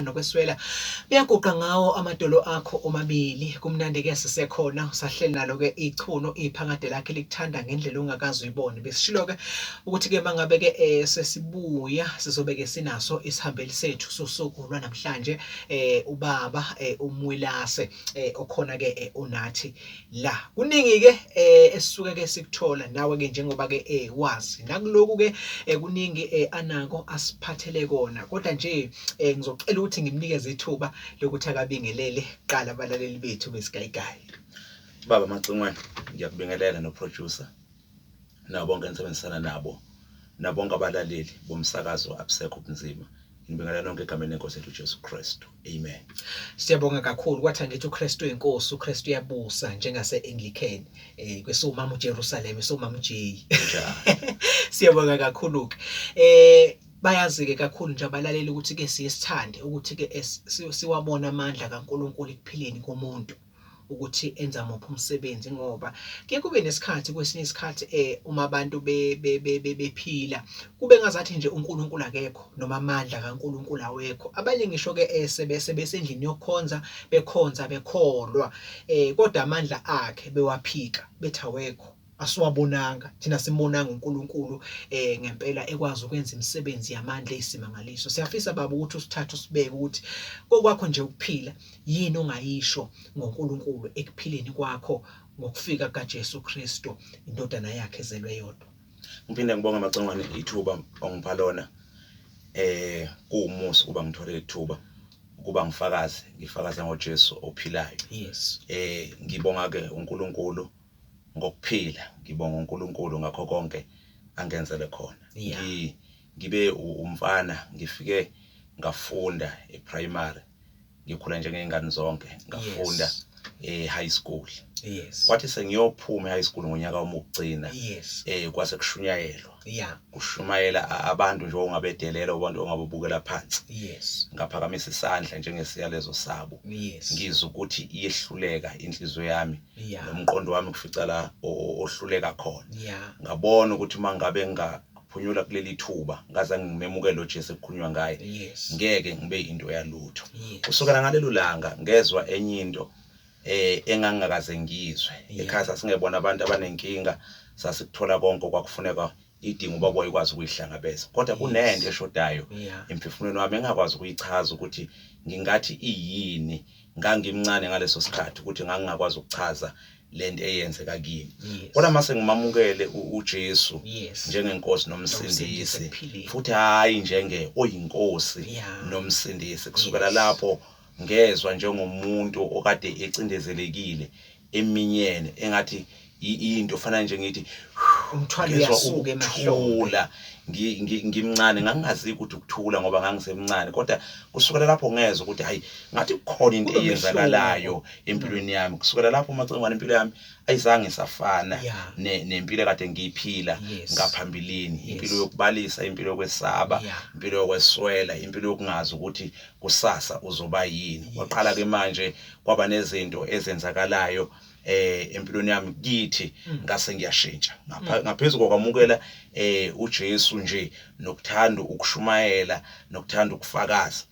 nokweswela uyaguqa ngawo amadolo akho omabili kumnandi ke sisekhona usahleli nalo ke ichuno iphakade lakhe likuthanda ngendlela ongakazi uyibone besishilo ke ukuthi ke mangabe ke eh, sesibuya sizobe ke sinaso isihambeli sethu sosuku lwanamhlanje eh ubaba eh, umwilase eh, okhona ke eh, unathi la kuningi ke eh, esisuke ke sikuthola nawe ke njengoba ke eh, wazi nakuloku ke eh, kuningi eh, anako asiphathele kona kodwa nje eh ngizocela ukuthi ngimnikeze ithuba lokuthi akabingelele qala abalaleli bethu besigayigayi baba macingwane ngiyakubingelela noproducer nabo bonke engisebenzisana nabo nabo bonke abalaleli bomsakazo abusekho ubunzima ngibingelela nonke egameni lenkosi yethu ujesu kristu amen siyabonga kakhulu kwathi angithi ukristu inkosi ukristu uyabusa njengase-anglican um kwesiwumama ujerusalema esiwumama ujeyi siyabonga kakhulu-ke um Bayazi-ke kakhulu nje abalaleli ukuthi-ke siye sithande ukuthi-ke siwabone amandla kaNkulunkulu ekuphileni komuntu ukuthi enza muphi umsebenzi ngoba ke kube nesikhathi kwesinye isikhathi eh uma abantu bephila kube ngazathi nje uNkulunkulu akekho noma amandla kaNkulunkulu awekho abanye ngisho ke eh, sebese besendlini yokukhonza bekhonza bekholwa eh kodwa amandla akhe bewaphika bethi awekho asiwabonanga thina simbonanga uNkulunkulu eh ngempela ekwazi ukwenza imisebenzi yamandla eyisimangaliso siyafisa baba ukuthi usithathe usibeke ukuthi kokwakho nje ukuphila yini ongayisho ngoNkulunkulu ekuphileni kwakho ngokufika kaJesu Kristu indodana yakhe ezelwe yodwa ngiphinde ngibonga amacongwane ithuba ongipha lona eh kuwumusa ukuba ngithole ithuba ukuba ngifakaze ngifakaza ngoJesu ophilayo yes eh ngibonga ke uNkulunkulu ngokuphila ngibonga uNkulunkulu ngakho konke angenzele khona yeah. Ngi, ngibe umfana ngifike ngafunda eprimary ngikhula njengey'ngane zonke ngafunda yes e-high school yes wathi sengiyophuma e-high school ngonyaka wami wokugcina yes eh kwase kushunyayelwa yeah kushumayela abantu nje ongabedelela abantu ongabubukela phansi yes ngaphakamisa isandla njengesiyalezo sabo yes ngizwa ukuthi iyehluleka inhliziyo yami yeah. nomqondo wami kufica la ohluleka khona yeah. ngabona ukuthi uma ngabe ngaphunyula kuleli thuba ngaze ngimemukele lo Jesu ekukhulunywa ngaye yes. ngeke ngibe into yalutho yes. kusukela ngalelo langa ngezwa enye into eh engangakaze ngizwe yeah. ekhaya sasingebona abantu abanenkinga sasikuthola konke okwakufuneka idinga uba kwayikwazi ukuyihlangabeza kodwa kunento eshodayo emphefumulweni wami engakwazi ukuyichaza ukuthi ngingathi iyini ngangimncane ngaleso sikhathi ukuthi ngangingakwazi ukuchaza lento eyenzeka kimi kodwa mase ngimamukele uJesu njengenkosi nomsindisi futhi hayi njenge oyinkosi nomsindisi kusukela lapho ngezwa njengomuntu okade ecindezelekile eminyene engathi into fana nje ngithi umthwalo uyasuka emahlombe ngimncane ngangingazi ukuthi ukuthula ngoba ngangisemncane kodwa kusukela lapho ngezwe ukuthi hayi ngathi kukhona into eyenzakalayo empilweni yami kusukela lapho umacengwane impilo yami ayizange isafana nempilo kade ngiyiphila ngaphambilini impilo yokubalisa impilo yokwesaba impilo yokweswela impilo yokungazi ukuthi kusasa uzoba yini waqala ke manje kwaba nezinto ezenzakalayo eh empilweni yami kithi mm. ngase ngiyashintsha mm. ngaphezulu kokwamukela eh uJesu nje nokuthanda ukushumayela nokuthanda ukufakaza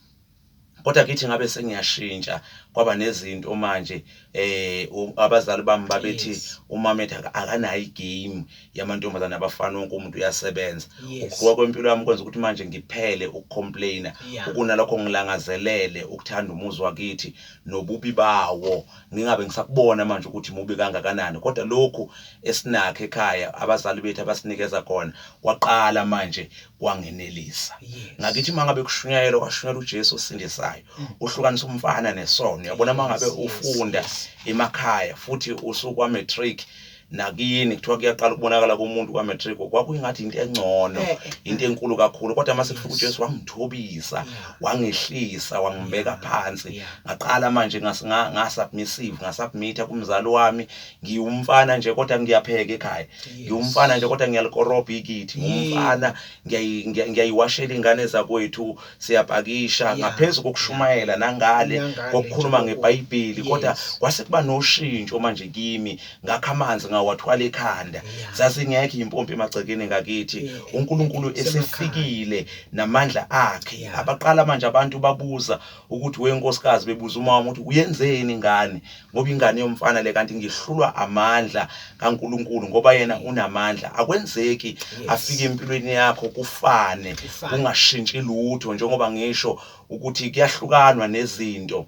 kodwa kithi ngabe sengiyashintsha kwaba nezinto manje eh abazali bami babethi umametha akanayo igame yamantombazane abafana wonke umuntu uyasebenza Yes. ukuqhuba kwempilo yami kwenza ukuthi manje ngiphele ukucomplaina Yeah. ukunalokho ngilangazelele ukuthanda umuzi wakithi nobubi bawo ngingabe ngisakubona manje ukuthi mubi kangakanani kodwa lokhu esinakho ekhaya abazali bethu abasinikeza khona kwaqala manje kwangenelisa Yes. ngakithi uma ngabe kushunyayelwa kwashunyayela ujesu osindisayo uhlukanisa umfana nesono yabona uma ngabe Mm. Yes, yes, ufunda yes. emakhaya futhi usukwamatric nakini kuthiwa kuyaqala ukubonakala komuntu kwa-matric kwakuingathi into engcono eh, eh. into enkulu kakhulu kodwa uma sekufika ujesu wangithobisa wangehlisa wangibeka phansi ngaqala manje ngasubmissive ngasubmitha kumzali wami ngiwumfana nje kodwa ngiyapheka ekhaya ngiwumfana nje kodwa ngiyalikorobha ikithi ngiwumfana ngiyayiwashela iy'ngane zakwethu siyapakisha ngaphezu kokushumayela nangale kokukhuluma ngeBhayibheli kodwa kwase kuba noshintsho manje kimi ngakho amanzi ngawathwala ekhanda zazingekho impompi emagcekeni ngakithi uNkulunkulu esefikile namandla akhe abaqala manje abantu babuza ukuthi wenkosikazi bebuza uma ukuthi uyenzeni ingane ngoba ingane yomfana le kanti ngihlulwa amandla kaNkuluNkulu ngoba yena unamandla akwenzeki afike empilweni yakho kufane kungashintshi lutho njengoba ngisho ukuthi kuyahlukanwa nezinto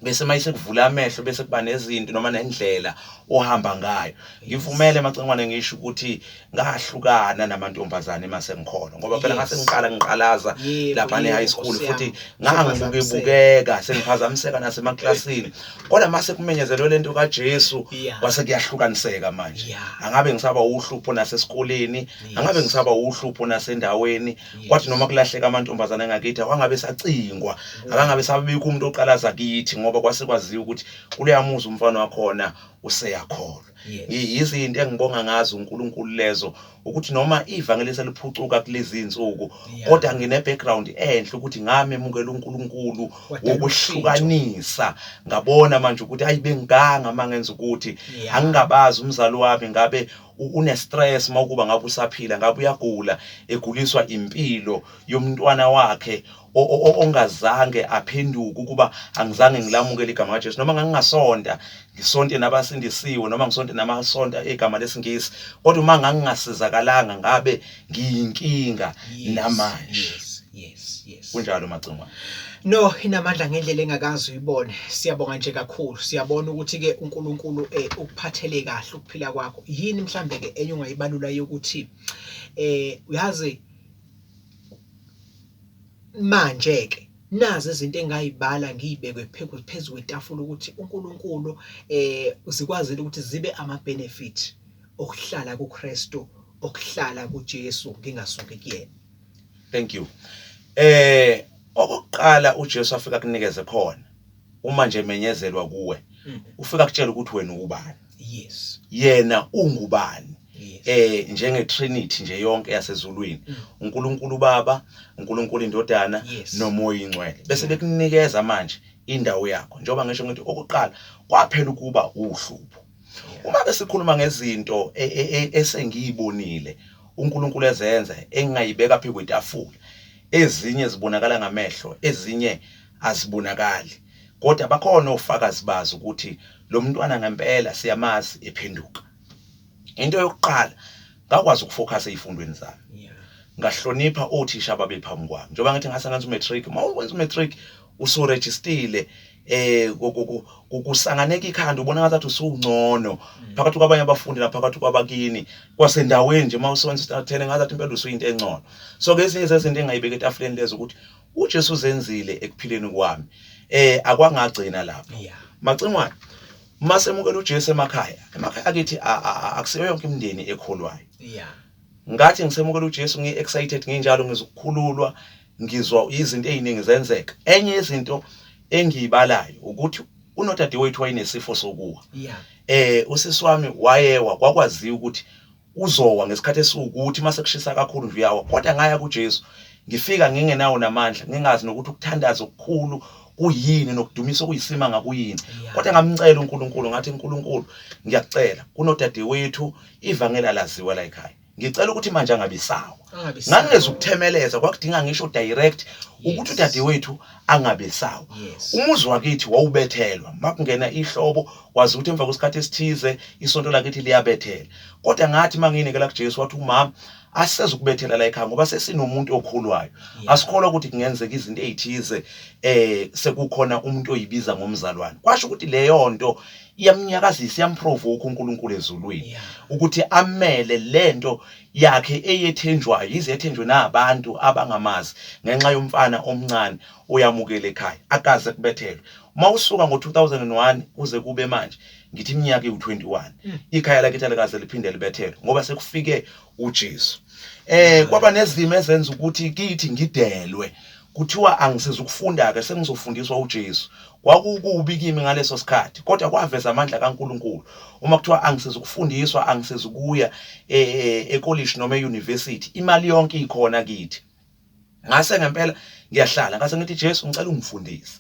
bese mayise kuvula amehlo bese kuba nezinto noma nendlela ohamba ngayo ngivumele macengwane ngisho ukuthi ngahlukana namantombazane uma sengikhona ngoba phela ngase ngiqala ngiqalaza lapha ne-high school futhi ngangibukebukeka sengiphazamiseka nasemaklasini kodwa uma sekumenyezelwe le nto kajesu kwase kuyahlukaniseka manje angabe ngisaba uhlupho nasesikoleni angabe ngisaba uhlupho nasendaweni kwathi noma kulahleka amantombazane ngakithi awangabe sacingwa akangabe sabibikho umuntu oqalaza kithi ngoba kwase kwaziwa ukuthi kuleya muzi umfana wakhona useyakhona Yes. I- yizo izinto engibonga ngazo uNkulunkulu lezo ukuthi noma ivangeli seliphucuka kulezi insuku Yeah. kodwa ngine background enhle ukuthi ngamemukela uNkulunkulu Wadala wokuhlukanisa ngabona manje ukuthi ayi bengiganga mangenza ukuthi Yeah. angingabazi umzali wami ngabe u- une stress mawukuba ngabe usaphila ngabe uyagula eguliswa impilo yomntwana wakhe ongazange aphenduke ukuba angizange ngilamukele igama likaJesu noma ngangingasonta ngisonte nabasindisiwe noma ngisonte namasonta egama lesiNgisi kodwa uma ngangingasizakalanga ngabe ngiyinkinga namanje yes yes yes kunjalo macingwane No inamandla ngendlela engakazi uyibone siyabonga nje kakhulu siyabona ukuthi ke uNkulunkulu eh, ukuphathele kahle ukuphila kwakho yini mhlambe ke enye ungayibalula yokuthi eh uyazi Manje-ke nazi izinto engayibala ngiyibekwe phezu kwetafula ukuthi uNkulunkulu eh zikwazile ukuthi zibe ama-benefit okuhlala kuKristu okuhlala kuJesu ngingasuki kuyena. Thank you. Eh okokuqala uJesu afika kunikeze khona uma nje menyezelwa kuwe mm. ufika kutshela ukuthi wena ubani. yes yena ungubani yes. eh njenge trinity nje yonke yasezulwini mm. uNkulunkulu baba uNkulunkulu indodana yes. nomoya ingcwele bese mm. bekunikeza manje indawo yakho njengoba ngisho ngithi okuqala kwaphela ukuba uhlupho uma besikhuluma ngezinto e, e, e, esengiyibonile uNkulunkulu ezenza engingayibeka phi kwetafula ezinye zibonakala ngamehlo ezinye azibonakali kodwa bakhona ofakazi bazi ukuthi lo mntwana ngempela siyamazi ephenduka into yokuqala ngakwazi ukufocusa ezifundweni zami ngahlonipha othisha ababephambi kwami njengoba ngathi ngase ngenza umatric uma ukwenza umatric usurejistile eh kusanganeka ikhanda ubona ngathi usungcono mm. phakathi kwabanye abafundi naphakathi kwabakini kwasendaweni nje uma usebenza standard 10 ngathi impela usuyinto engcono so ke ezinye zezinto engayibeka etafuleni lezo ukuthi uJesu uzenzile ekuphileni kwami eh akwangagcina lapho yeah macingwane masemukela uJesu emakhaya emakhaya akithi akusiyo yonke imindeni ekholwayo yeah ngathi ngisemukela uJesu ngi excited nginjalo ngizokukhululwa ngizwa izinto eziningi zenzeka enye izinto engiyibalayo ukuthi unodadewethu wayenesifo sokuwa yeah eh usisi wami wayewa kwakwaziwa ukuthi Uzowa ngesikhathi esiwukuthi uma sekushisa kakhulu nje uyawa, kodwa ngaya kuJesu, ngifika ngingenawo namandla, ngingazi nokuthi ukuthandaza okukhulu kuyini nokudumisa okuyisimanga kuyini kodwa ngamcela uNkulunkulu ngathi uNkulunkulu ngiyakucela kunodadewethu ivangela laziwa la ekhaya ngicela ukuthi manje angabisawa ngangeza ukuthemeleza kwakudinga ngisho direct ukuthi udadewethu angabesawa umuzi wakithi wawubethelwa makungena ihlobo wazi ukuthi emva kwesikhathi esithize isonto lakithi liyabethela kodwa ngathi uma ngiyinikela kujesu wathi umama asiseze ukubethela la ekhaya ngoba sesinomuntu okhulwayo asikholwa ukuthi kungenzeka izinto ey'thize um sekukhona umuntu oyibiza ngomzalwane kwasho ukuthi leyo nto iyamnyakazisa iyamprovokha unkulunkulu ezulwini ukuthi amele le nto yakhe eyethenjwayo yize yethenjwe nabantu abangamazi ngenxa yomfana omncane oyamukela ekhaya akaze kubethelwe uma usuka ngo-2001 kuze kube manje ngithi iminyaka iwu-21 hmm. ikhaya lakithi alikaze liphinde libethelwe ngoba sekufike ujesu um kwaba nezimo ezenza ukuthi kithi ngidelwe kuthiwa angisiza ukufunda-ke sengizofundiswa ujesu kwakukubi kimi ngaleso sikhathi kodwa kwaveza amandla kankulunkulu uma kuthiwa angisiza ukufundiswa angisiza ukuya eh, eh, ekolishi noma eyunivesithi imali yonke ikhona kithi ngase ngempela ngiyahlala ngase ngithi Jesu ngicela ungifundise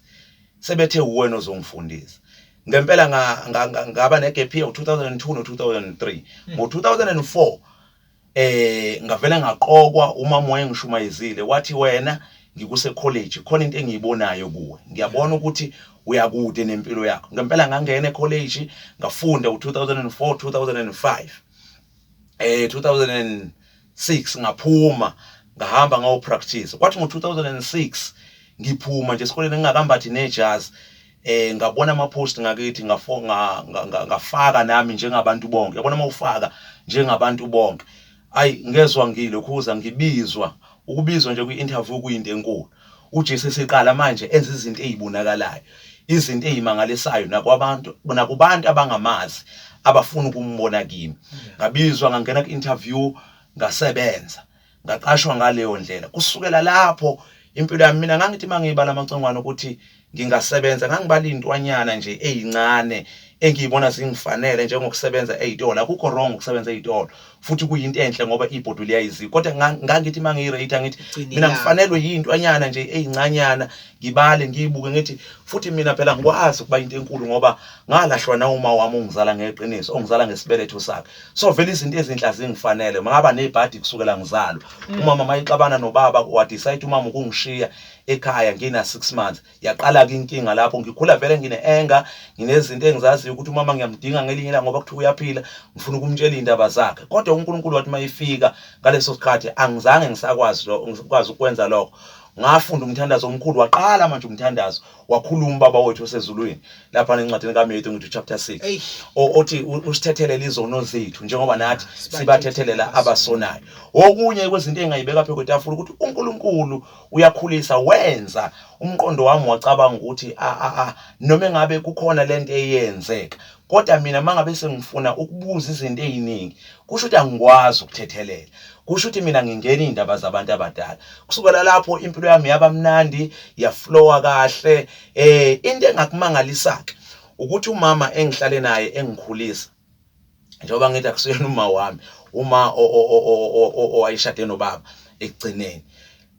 sebethe uwena ozongifundisa ngempela ngaba negap year u2002 no2003 hmm. ngo2004 eh ngavela ngaqokwa umama wayengishumayezile wathi wena ngikuse college khona into engiyibonayo kuwe ngiyabona ukuthi uyakude nempilo yakho ngempela ngangena ecollege ngafunda u2004 2005 eh 2000 ngo-2006 ngaphuma ngahamba ngayopractice kwathi ngo-2006 ngiphuma nje esikoleni ngingakambathi nejazi eh ngabona ama post ngakithi ngafaka nami njengabantu bonke yabona uma ufaka njengabantu bonke ayi ngezwa ngilokhuza ngibizwa ukubizwa nje kwi-interview kuyinto enkulu UJesu eseqala manje enza izinto ezibonakalayo, izinto ezimangalisayo nakwabantu nakubantu abangamazi abafuna ukumbona kimi. Ngabizwa ngangena ku-interview ngasebenza ngaqashwa ngaleyo ndlela kusukela lapho impilo yami mina ngangithi mangiyibala amacongwane ukuthi ngingasebenza ngangibala iy'ntwanyana nje ey'ncane engiyibona zingifanele njengokusebenza ey'tolo akukho wrong ukusebenza ey'tolo futhi kuyinto enhle ngoba ibhodwe liyayizika kodwa ngangithi uma ngiyirate angithi mina ngifanelwe yiy'ntwanyana nje ey'ncanyana ngibale ngiyibuke ngithi futhi mina phela ngikwazi ukuba into enkulu ngoba ngalahlwa nawuma wami ongizala ngeqiniso ongizala ngesibeletho sakhe so vele izinto ezinhle azingifanele ngaba nebhadi kusukela ngizalwa mm. umama mayixabana nobaba wadecide umama ukungishiya ekhaya ngina 6 months yaqala ke inkinga lapho ngikhula vele ngine anger nginezinto engizaziyo ukuthi umama ngiyamdinga ngelinye la ngoba kuthiwa uyaphila ngifuna ukumtshela indaba zakhe kodwa uNkulunkulu wathi mayifika ngaleso sikhathi angizange ngisakwazi lo ngikwazi ukwenza lokho ngafunda umthandazo omkhulu waqala manje umthandazo wakhuluma ubaba wethu osezulwini lapha nencwadini kaMatthew ngithi chapter 6 othi usithethelele izono zethu njengoba nathi sibathethelela abasonayo okunye kwezinto engayibeka phezu kwetafula ukuthi uNkulunkulu uyakhulisa wenza umqondo wami wacabanga ukuthi a a a noma engabe kukhona lento eyenzeka kodwa mina mangabe sengifuna ukubuza izinto eziningi kusho ukuthi angikwazi ukuthethelela kusho ukuthi mina ngingena izindaba zabantu abadala kusukela lapho impilo yami yaba mnandi yaflowa kahle eh into engakumangalisaka ukuthi umama engihlale naye engikhulisa njengoba ngithi akusiyena uma wami uma owayeshade nobaba ekugcineni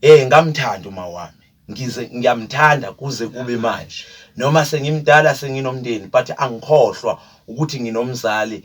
eh ngamthanda uma wami ngize ngiyamthanda kuze kube manje noma sengimdala senginomndeni but angikhohlwa ukuthi nginomzali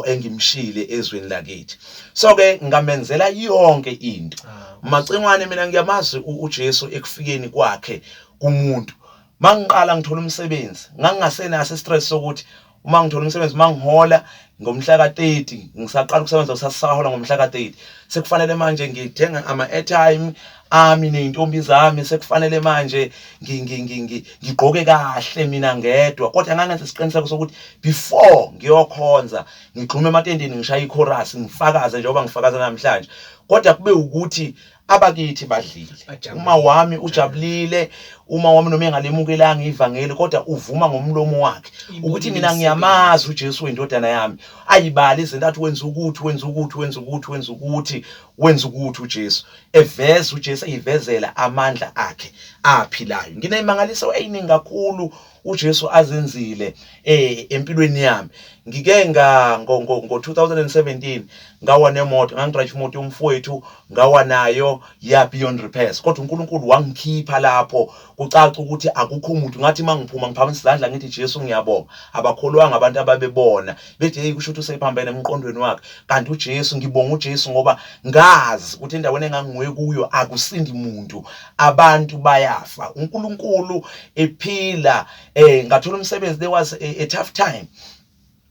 engimshile ezweni lakithi so ke ngamenzela yonke into ah. macingwane mina ngiyamazi uJesu ekufikeni kwakhe kumuntu mangiqala ngithola umsebenzi ngangingasenaso istress sokuthi uma ngithola umsebenzi uma ngihola ngomhla ka-30 ngisaqala ukusebenza usasahola ngomhla ka-30 sekufanele manje ngithenga ama-airtime ami ney'ntombi zami sekufanele manje ngigqoke kahle mina ngedwa kodwa ngangenza isiqiniseko sokuthi before ngiyokhonza ngigxume ematendeni ngishaye ikhorasi ngifakaze njengoba ngifakaze namhlanje kodwa kube ukuthi abakithi badlile Bajabulile. uma wami ujabulile uma wami noma engalemukelanga ivangeli kodwa uvuma ngomlomo wakhe Ibonile ukuthi mina imisebenzi. ngiyamazi uJesu wendodana yami ayibali izinto athi wenza ukuthi wenza ukuthi wenza ukuthi wenza ukuthi wenza ukuthi uJesu eveza uJesu eyivezela amandla akhe aphilayo ngineyimangaliso eyiningi kakhulu uJesu azenzile eh empilweni yami ngike nga ngo 2017 ngawa nemoto ngangidrayive imoto yomfowethu ngawa nayo ya beyond repairs kodwa uNkulunkulu wangikhipha lapho kucaca ukuthi akukho umuntu ngathi mangiphuma ngiphakamisa izandla ngithi Jesu ngiyabonga abakholwanga abantu ababebona bethi hey kusho ukuthi usephambene emqondweni wakhe kanti uJesu ngibonga uJesu ngoba ngazi ukuthi endaweni engangiwe kuyo akusindi muntu abantu bayafa uNkulunkulu ephila eh ngathola umsebenzi there was a, a tough time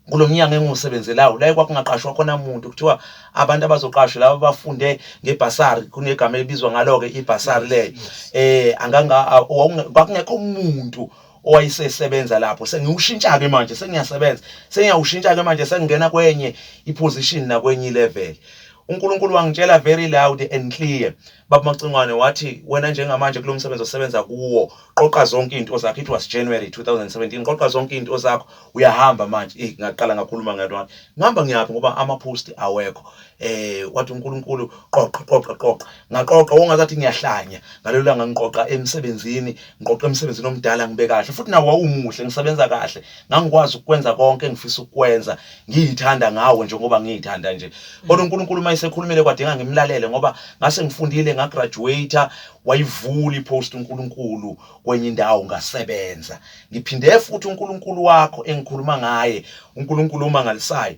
kulomnyango engiwusebenzelayo la kwakungaqashwa khona umuntu kuthiwa abantu abazoqashwa laba bafunde ngebhasari kunegama elibizwa ngalo-ke ibhasari leyo eh anganga kwakungekho umuntu owayesesebenza lapho sengiwushintsha-ke manje sengiyasebenza sengiyawushintsha-ke manje sengingena kwenye iposition nakwenye ilevel unkulunkulu wangitshela very loud and clear Baba Macingwane wathi wena njengamanje kulo msebenzi osebenza kuwo qoqa zonke into zakho it was January 2017 qoqa zonke into zakho uyahamba manje eh ngaqala ngakhuluma ngathi ngihamba ngiyaphi ngoba ama post awekho eh wathi uNkulunkulu qoqa qoqa qoqa ngaqoqa wongazathi ngiyahlanya ngalelo langa ngiqoqa emsebenzini ngiqoqa emsebenzini omdala ngibe kahle futhi nawo wawumuhle ngisebenza kahle ngangikwazi ukwenza konke engifisa ukwenza ngiyithanda ngawo nje ngoba ngiyithanda nje kodwa uNkulunkulu uma esekhulumile kwadinga ngimlalele ngoba ngase ngifundile ngagraduate wayivula ipost uNkulunkulu kwenye indawo ngasebenza ngiphinde futhi uNkulunkulu wakho engikhuluma ngaye uNkulunkulu omangalisayo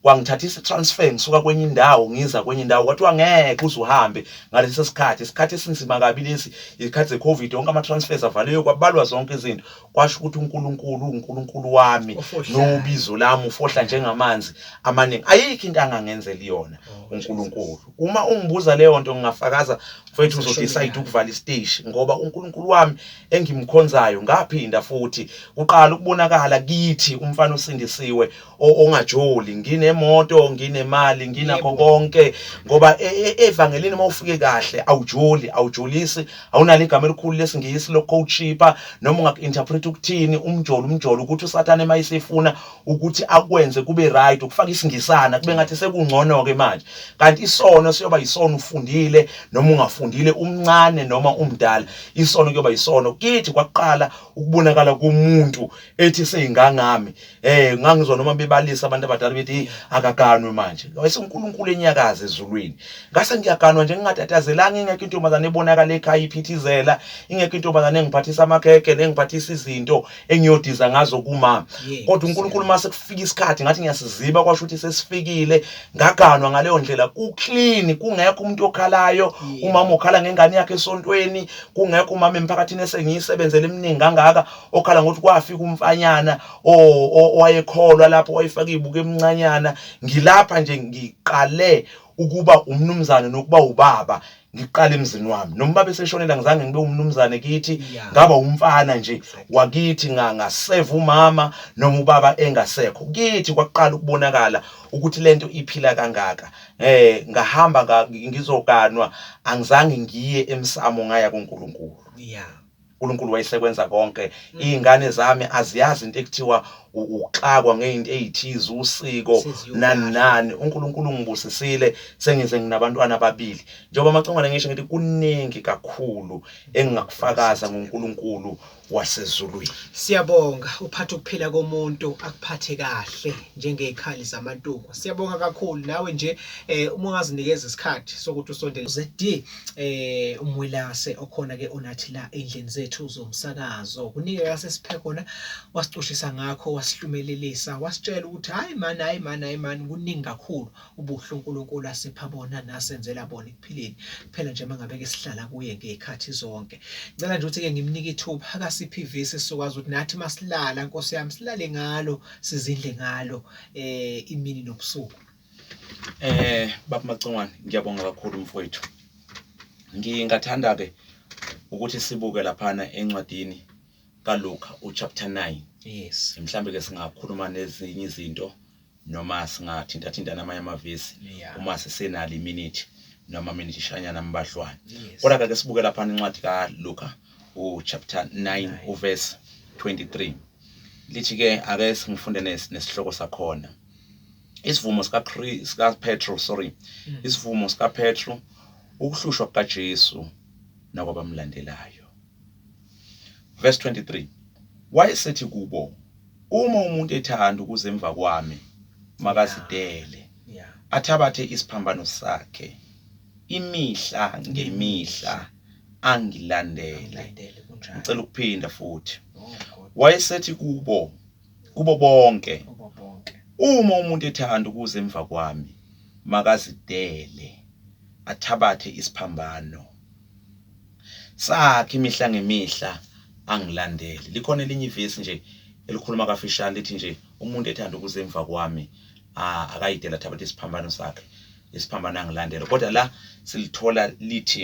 kwangithathisa transfer ngisuka kwenye indawo ngiza kwenye indawo kwathiwa ngeke uze uhambe ngalesi sikhathi isikhathi esinzima kabi lesi isikhathi secovid wonke ama-transfers avaliwe kwabalwa zonke izinto kwasho ukuthi uNkulunkulu uNkulunkulu wami nobizo lami ufohla njengamanzi amaningi ayikho into angangenzela iyona oh, uNkulunkulu uma ungibuza leyo nto ngingafakaza mfethu uzodecide ukuvala isiteshi ngoba uNkulunkulu wami engimkhonzayo ngaphinda futhi uqala ukubonakala kithi umfana osindisiwe ongajoli nginemoto nginemali nginakho konke ngoba e, e, evangelini uma ufike kahle awujoli awujolisi awunalo igama elikhulu lesingisi lokucoachipa noma ungaku-interpret ukuthini umjolo umjolo ukuthi usathane uma isefuna ukuthi akwenze kube right ukufaka isingisana kube ngathi sekungcono-ke manje kanti isono siyoba yisono ufundile noma ungafundile umncane noma umdala isono kuyoba yisono kithi kwaqala ukubonakala komuntu ethi seyingangami Eh ngangizwa noma bebalisa abantu abadala bethi akaganwe manje. Wayese uNkulunkulu enyakaza ezulwini. Ngase ngiyaganwa nje ngingatatazelanga ingekho intombazane ebonakala ekhaya iphithizela, ingekho intombazane engiphathisa amakhekhe nengiphathisa izinto engiyodiza ngazo kuma. Kodwa uNkulunkulu mase kufika isikhathi ngathi ngiyasiziba kwasho ukuthi sesifikile. Ngaganwa ngaleyo ndlela ku clean kungekho umuntu okhalayo, umama ukhala ngengane yakhe esontweni, kungekho umama emphakathini esengiyisebenzele eminingi kangaka. okhala ngokuthi kwafika umfanyana owayekholwa lapho wayefaka izibuko emncanyana ngilapha nje ngiqale ukuba umnumzane nokuba ubaba ngiqale emzini wami noma ubaba eseshonela ngizange ngibe umnumzane kithi ngaba umfana nje wakithi ngaseva umama noma ubaba engasekho kithi kwaqala ukubonakala ukuthi lento iphila kangaka eh ngahamba ngizokanwa angizange ngiye emsamo ngaya kuNkulunkulu yeah uNkulunkulu wayesekwenza konke mm. iy'ngane zami aziyazi into ekuthiwa ukuxakwa ngeyinto eyithize usiko nani nani uNkulunkulu ngibusisile sengize nginabantwana ababili njengoba amacongwane ngisho ngithi kuningi kakhulu engingakufakaza ngoNkulunkulu wasezulwini siyabonga uphatha ukuphila komuntu akuphathe kahle njengezikhali zamantuku siyabonga kakhulu nawe nje eh uma ungazinikeza isikhathi sokuthi usondele ZD eh umwelase okhona ke onathi la endlini zethu zomsakazo kunike kase siphe khona wasicushisa ngakho wasihlumelelisa wasitshela ukuthi hayi mani hayi mani hayi mani kuningi kakhulu ubuhle uNkulunkulu asipha bona nasenzela bona ekuphileni phela nje mangabe ke sihlala kuye ngekhathi zonke ngicela nje ukuthi ke ngimnike ithuba akasiphi ivisi sokwazi ukuthi nathi masilala nkosi yami silale ngalo sizindle ngalo eh imini nobusuku Eh Baba Macongwane ngiyabonga kakhulu mfowethu. Ngingathanda ke ukuthi sibuke laphana encwadini kaLuka uchapter 9. Yes. Mhlambe ke singakhuluma nezinye izinto noma singathinta thinta namanye amavesi yeah. uma sisenali minute noma minute ishanyana mbahlwane. Yes. Kodwa ke sibuke laphana incwadi kaLuka uchapter 9 uverse 23. Lithi ke ake singifunde nesihloko sakhona. isivumo sika sika Petro sorry mm. isivumo sika Petro ukuhlushwa kukaJesu nakwabamlandelayo verse 23 wayesethi kubo uma umuntu ethanda ukuze emva kwami makazidele athabathe isiphambano sakhe imihla ngemihla angilandele ngicela ukuphinda futhi oh, wayesethi kubo kubo bonke kubo bonke uma umuntu ethanda ukuza emva kwami makazidele athabathe isiphambano sakhe imihla ngemihla angilandele likhona elinye ivesi nje elikhuluma kafishane lithi nje umuntu ethanda ukuza emva kwami akayidele athabathe isiphambano sakhe isiphambano angilandele kodwa la silithola lithi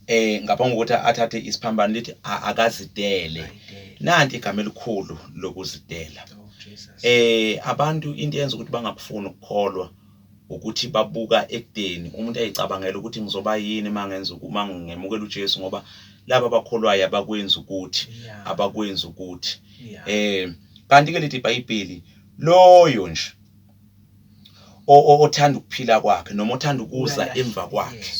eh ngaphambi kokuthi athathe isiphambano lithi akazidele nanti igama elikhulu lokuzidela oh, eh abantu into yenza ukuthi bangakufuni ukukholwa ukuthi babuka ekudeni umuntu ayicabangela ukuthi ngizoba yini mangenza uma ngemukela uJesu ngoba laba abakholwayo abakwenza ukuthi abakwenza ukuthi eh kanti ke lithi iBhayibheli loyo nje othanda ukuphila kwakhe noma othanda ukuza emva kwakhe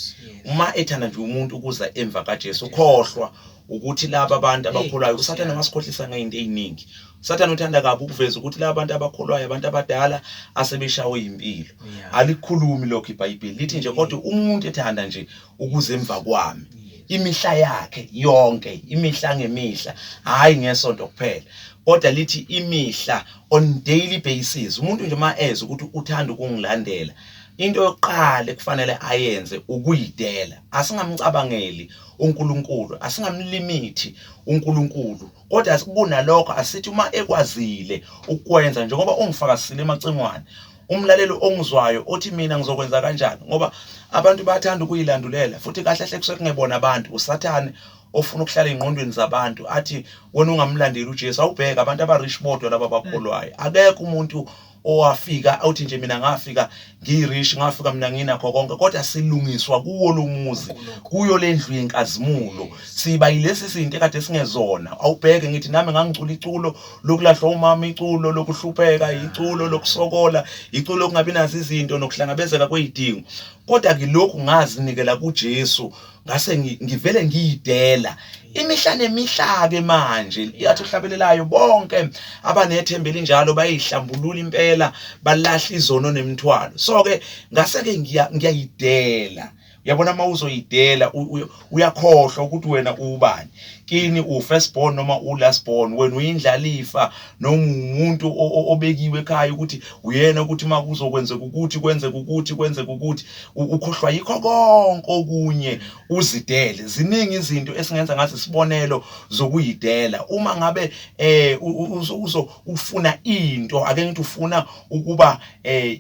uma ethanda nje umuntu ukuza emva kaJesu ukhohlwa ukuthi laba bantu abakholwayo usathane wasikhohlisa ngeyinto eziningi usathane uthanda kabi ukuveza ukuthi laba bantu abakholwayo abantu abadala asebeshawe impilo alikhulumi lokho iBhayibheli lithi nje kodwa umuntu ethanda nje ukuze emva kwami imihla yakhe yonke imihla ngemihla hayi ngesonto kuphela kodwa lithi imihla on daily basis umuntu nje uma eze ukuthi uthanda ukungilandela into yokuqala ekufanele ayenze ukuyidela asingamcabangeli uNkulunkulu asingamlimithi uNkulunkulu kodwa kunalokho asithi uma ekwazile ukwenza njengoba ungifakazile emacingwane umlaleli ongizwayo othi mina ngizokwenza kanjani ngoba abantu bayathanda ukuyilandulela futhi kahle hle kusuke kungebona abantu usathane ofuna ukuhlala engqondweni zabantu athi wena ungamlandeli uJesu awubheke abantu abarish bodwa laba bakholwayo mm. akekho umuntu owafika awuthi nje mina ngafika ngirish ngafika mina nginakho konke kodwa silungiswa kuwo lomuzi kuyo lendlu yenkazimulo siba yilesi sinto ekade singezona awubheke ngithi nami ngangicula iculo lokulahlwa umama iculo lokuhlupheka iculo lokusokola iculo lokungabi nazo izinto nokuhlangabezeka kwezidingo kodwa kilokhu ngazinikela kuJesu ngase ngi- ngivele ngiyidela imihla nemihla-ke manje iyathi ohlabelelayo bonke abanethemba elinjalo bayihlambulula impela balahla izono nemithwalo so-ke ngase-ke ngiya- ngiyayidela uyabona uma uzoyidela u- u- uyakhohlwa ukuthi wena ubani kini u-first born noma u-last born wena uyindlalifa noma umuntu obekiwe ekhaya ukuthi uyena ukuthi uma kuzokwenzeka ukuthi kwenzeka ukuthi kwenzeka ukuthi ukhohlwa yikho konke okunye uzidele ziningi izinto esingenza ngazo isibonelo zokuyidela uma ngabe eh uzo ufuna into ake ngithi ufuna ukuba eh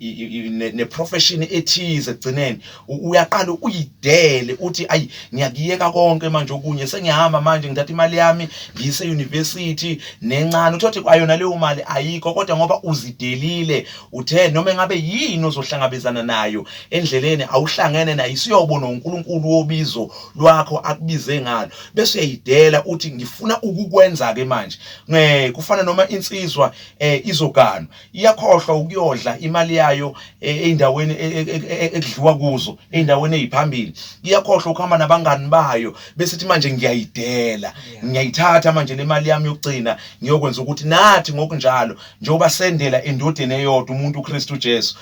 ne profession ethize egcineni uyaqala uyidele uthi ayi ngiyakuyeka konke manje okunye sengiyahamba manje ngithatha imali yami ngiyise university nencane uthothi kwayona leyo mali ayikho kodwa ngoba uzidelile uthe noma ngabe yini ozohlangabezana nayo endleleni awuhlangene nayo isiyobona uNkulunkulu wobizo lwakho akubize ngalo bese uyayidela uthi ngifuna ukukwenza ke manje ngeke kufana noma insizwa eh izoganwa iyakhohlwa ukuyodla imali yayo e, ey'ndaweni e, e, ekudliwa kuzo ey'ndaweni ey'phambili iyakhohlwa ukuhamba nabangani bayo bese ithi manje ngiyayidela ngiyayithatha manje le mali yami yokugcina ngiyokwenza ukuthi nathi ngokunjalo njengoba sendela endodeni eyodwa umuntu uKristu Jesu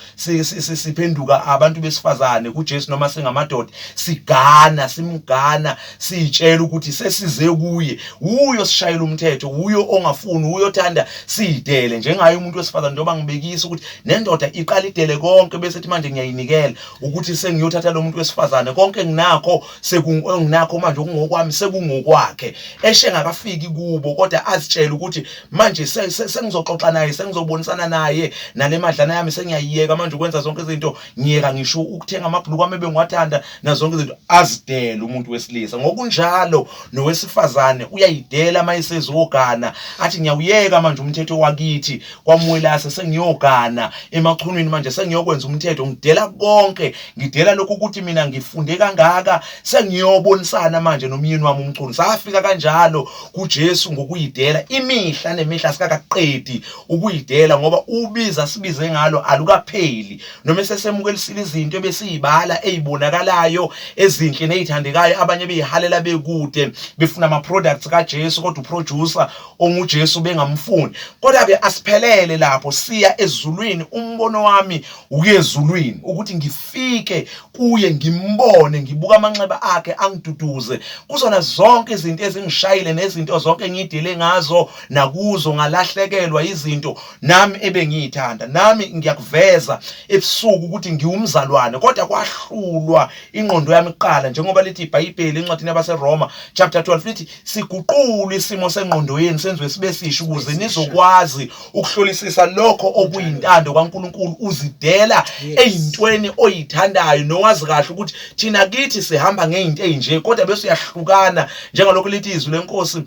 siphenduka abantu besifazane kuJesu noma singamadoda sigana simgana siyitshela ukuthi sesize kuye wuye osishayela umthetho wuye ongafuni wuye othanda sidele njengaye umuntu wesifazane njengoba ngibekisa ukuthi nendoda iqala idele konke bese ethi manje ngiyayinikela ukuthi sengiyothatha lo muntu wesifazane konke enginakho enginakho manje okungokwami sekungokwakhe eshe ngakafiki kubo kodwa azitshele ukuthi manje sengizoxoxa naye sengizobonisana naye nale madlana yami sengiyayiyeka manje ukwenza zonke izinto ngiyeka ngisho ukuthenga amabhuluku ami ebengiwathanda nazonke izinto azidele umuntu wesilisa ngokunjalo nowesifazane uyayidela uma esezogana athi ngiyawuyeka manje umthetho wakithi kwamwelase sengiyogana emachunwini manje sengiyokwenza umthetho ngidela konke ngidela lokhu ukuthi mina ngifunde kangaka sengiyobonisana manje nomyeni wami umchunu safika kanjalo kuJesu ngokuyidela imihla nemihla sikakaqedi ukuyidela ngoba ubiza sibize ngalo alukapheli noma esesemukelisile izinto ebesiyibala ezibonakalayo ezinhle nezithandekayo abanye beyihalela bekude befuna ama products kaJesu kodwa uproducer onguJesu bengamfuni kodwa ke asiphelele lapho siya ezulwini umbono wami ukuyezulwini ukuthi ngifike kuye ngimbone ngibuka amanxeba akhe angiduduze kuzona zonke izinto ezingishayile nezinto zonke engidele ngazo nakuzo ngalahlekelwa izinto nami ebengiyithanda nami ngiyakuveza ebusuku ukuthi ngiwumzalwane kodwa kwahlulwa ingqondo yami kuqala njengoba lithi iBhayibheli encwadini yabaseRoma chapter 12 lithi siguqule isimo sengqondo yenu senziwe sibe sisho ukuze nizokwazi ukuhlolisisa lokho okuyintando kaNkuluNkulu uzidela ezintweni oyithandayo nowazi kahle ukuthi thina kithi sihamba ngezinto ezinje kodwa bese uyahlukana njengalokho lithi izwi lenkosi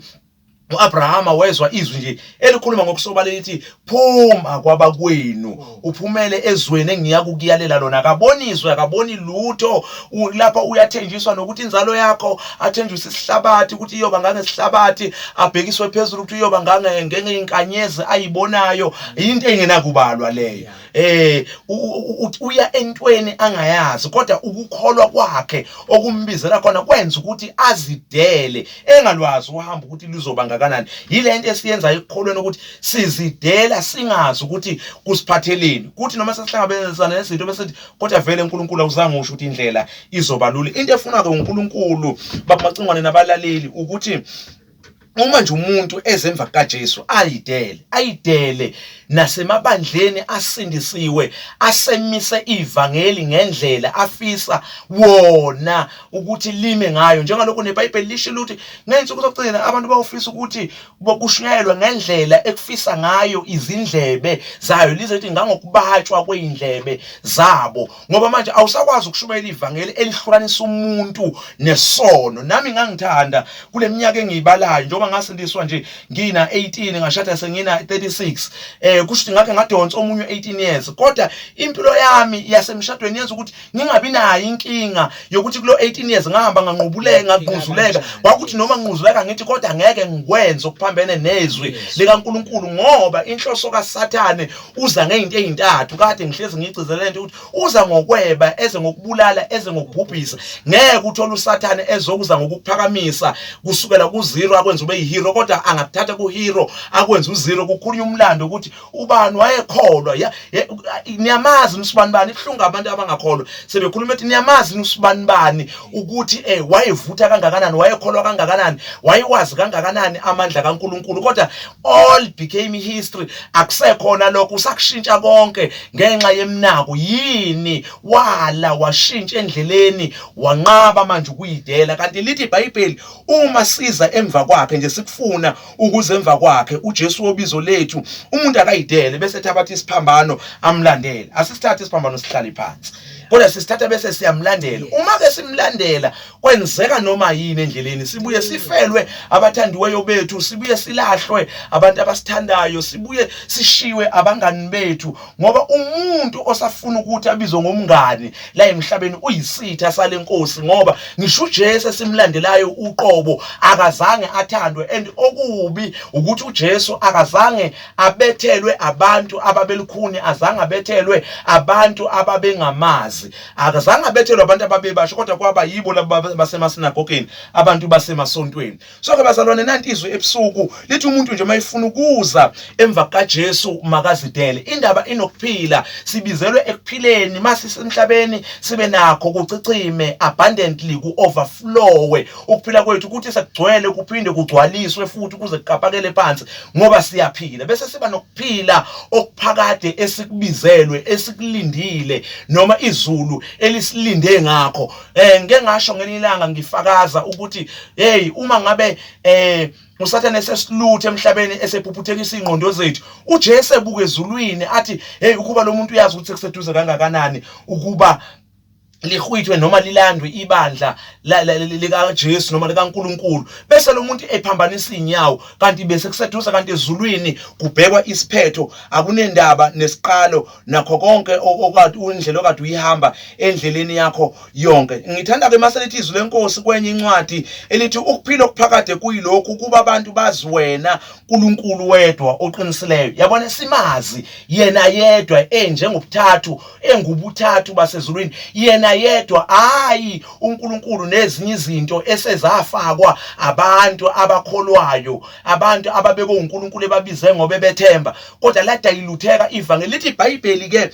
U-Abrahama wezwa izwi nje elikhuluma ngokusobala elithi phuma kwabakwenu uphumele ezweni engiya kukuyalela lona akaboniswe akaboni lutho lapha uyathenjiswa nokuthi inzalo yakho athenjiswe isihlabathi ukuthi iyoba ngangesihlabathi abhekiswe phezulu ukuthi uyoba ngangengeinkanyezi ayibonayo yinto engenakubalwa leyo eh uya entweni angayazi kodwa ukukholwa kwakhe okumbizela khona kwenza ukuthi azidele engalwazi uhamba ukuthi lizoba ngakanani yilento esiyenzayo ekukholweni ukuthi sizidela singazi ukuthi kusiphatheleni kuthi noma sesihlangabezana nezinto bese kodwa vele uNkulunkulu awuzange usho ukuthi indlela izoba lula into efunwa ke uNkulunkulu babamacingwane nabalaleli ukuthi uma nje umuntu ezemva kukaJesu ayidele ayidele nasemabandleni asindisiwe asemise ivangeli ngendlela afisa wona ukuthi lime ngayo njengalokho neBhayibheli lisho ukuthi ngenze ukuzogcina abantu bawufisa ukuthi bokushunyayelwa ngendlela ekufisa ngayo izindlebe zayo lizothi ngangokubatshwa kweindlebe zabo ngoba manje awusakwazi ukushumayela ivangeli elihlukanisa umuntu nesono nami ngangithanda kule minyaka engiyibalayo njengoba ngasindiswa nje ngina 18 ngashada sengina 36 eh kusho ukuthi ngakhe ngadonsa omunye 18 years kodwa impilo yami yasemshadweni yenza ukuthi ngingabi nayo inkinga yokuthi kulo 18 years ngahamba nganqubuleka ngaquzuleka kwakuthi noma nquzuleka ngithi kodwa ngeke ngikwenze okuphambene nezwi likaNkuluNkulu ngoba inhloso kaSathane uza ngezinto ezintathu kade ngihlezi ngigcizela lento ukuthi uza ngokweba eze ngokubulala eze ngokubhubhisa ngeke uthole usathane ezokuza ngokuphakamisa kusukela ku zero akwenza ube yihero kodwa angakuthatha ku hero akwenza u zero kukhulunywa umlando ukuthi ubani wayekholwa niyamazi usibani bani ihlunga abantu abangakholwa sebekhuluma ethi niyamazi usibani bani ukuthi eh wayevutha kangakanani wayekholwa kangakanani wayewazi kangakanani amandla kaNkuluNkulu kodwa all became history akusekhona lokho usakushintsha konke ngenxa yemnako yini wala washintsha endleleni wanqaba manje ukuyidela kanti lithi iBhayibheli uma siza emva kwakhe nje sikufuna ukuze emva kwakhe uJesu wobizo lethu umuntu akayidele bese thabatha isiphambano amlandele asisithathe isiphambano sihlale phansi kodwa sisithatha bese siyamlandela uma ke simlandela kwenzeka noma yini endleleni sibuye sifelwe abathandiweyo bethu sibuye silahlwe abantu abasithandayo sibuye sishiwe abangani bethu ngoba umuntu osafuna ukuthi abizwe ngomngani la emhlabeni uyisitha sale nkosi ngoba ngisho uJesu simlandelayo uqobo akazange athandwe and okubi ukuthi uJesu akazange abethelwe abantu ababelukhuni azange abethelwe abantu ababengamazi akazange abethelwe abantu ababebasho kodwa kwaba yibo laba basemasinagogeni abantu basemasontweni so ke bazalwane nanti izwi ebusuku lithi umuntu nje mayifuna ukuza emva kaJesu makazidele indaba inokuphila sibizelwe ekuphileni masisemhlabeni sibe nakho kucicime abundantly ku overflow ukuphila kwethu ukuthi sekugcwele kuphinde kugcwaliswe futhi kuze kukapakele phansi ngoba siyaphila bese siba phila okuphakade esikubizelwe esikulindile noma izulu elisilinde ngakho eh ngeke ngasho ngelinye ilanga ngifakaza ukuthi hey uma ngabe eh usathane esesiluthe emhlabeni esephuphuthekisa ingqondo zethu uJesu ebuke ezulwini athi hey ukuba lo muntu uyazi ukuthi sekuseduze kangakanani ukuba lihwithwe noma lilandwe ibandla likaJesu noma likaNkuluNkulu bese lo muntu ephambanisa inyawo kanti bese kuseduza kanti ezulwini kubhekwa isiphetho akunendaba nesiqalo nakho konke okade indlela okade uyihamba endleleni yakho yonke ngithanda ke maselithi izwi lenkosi kwenye incwadi elithi ukuphila okuphakade kuyilokhu ukuba abantu bazi wena uNkulunkulu wedwa oqinisileyo yabona simazi yena yedwa enjengobuthathu engubuthathu basezulwini yena yedwa hayi uNkulunkulu nezinye izinto esezafakwa abantu abakholwayo abantu ababeke uNkulunkulu ebabize ngoba bethemba kodwa ladayilutheka ivangeli lithi iBhayibheli ke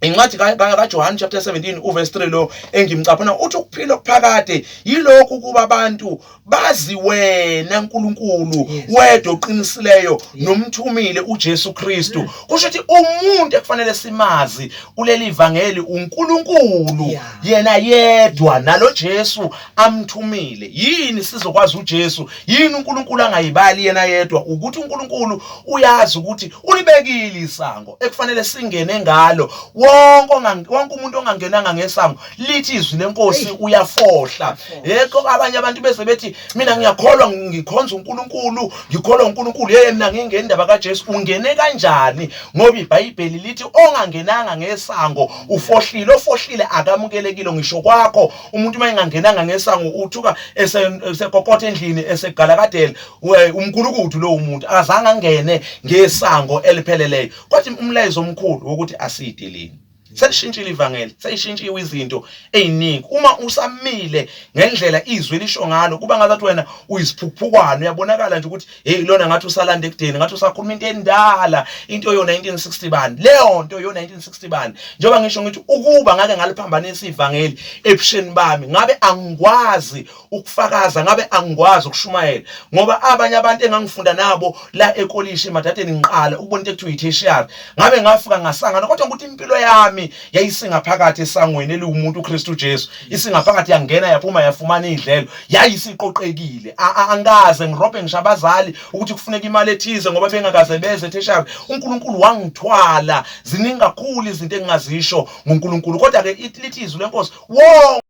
incwadi kaJohane chapter 17 uverse 3 lo engimcaphuna uthi ukuphila okuphakade yilokhu kuba abantu bazi wena nkulunkulu wedwa oqinisileyo nomthumile ujesu kristu mm. kusho ukuthi umuntu ekufanele simazi kuleli vangeli unkulunkulu yena yedwa nalo jesu amthumile yini sizokwazi ujesu yini unkulunkulu angayibali yena yedwa ukuthi unkulunkulu uyazi ukuthi ulibekile isango ekufanele singene ngalo wonke umuntu ongangenanga ngesango lithi izwi lenkosi uyafohla yekho abanye abantu bese bethi mina ngiyakholwa ngikhonza uNkulunkulu ngikholwa uNkulunkulu yeye mina ngingeni indaba kaJesu ungene kanjani ngoba iBhayibheli lithi ongangenanga ngesango ufohlile ofohlile akamukelekile ngisho kwakho umuntu uma engangenanga ngesango uthuka esekokotha endlini esegala kadele umgulukudu lowo muntu azange angene ngesango elipheleleyo kwathi umlayezo omkhulu wokuthi asideleni selishintshile ivangeli seyishintshiwe izinto eziningi uma usamile ngendlela izwi lisho ngalo kuba ngathi wena uyisiphukuphukwano uyabonakala nje ukuthi hey lona ngathi usalanda ekudeni ngathi usakhuluma into endala into yo 1960 bani leyo nto yo 1960 bani njengoba ngisho ngithi ukuba ngake ngaliphambanisa ivangeli ebusheni bami ngabe angikwazi ukufakaza ngabe angikwazi ukushumayela ngoba abanye abantu engangifunda nabo la ekolishi emadadeni ngiqala ukubona into ekuthiwa yi-tertiary ngabe ngafika ngasangana kodwa ukuthi impilo yami yayisingaphakathi esangweni eliwumuntu uKristu Jesu isingaphakathi yangena yaphuma yafumana idlelo yayisiqoqekile angikaze ngirobhe ngisho abazali ukuthi kufuneka imali ethize ngoba bengakaze beze tertiary uNkulunkulu wangithwala ziningi kakhulu izinto engingazisho ngoNkulunkulu kodwa ke lithi izwi lenkosi wonke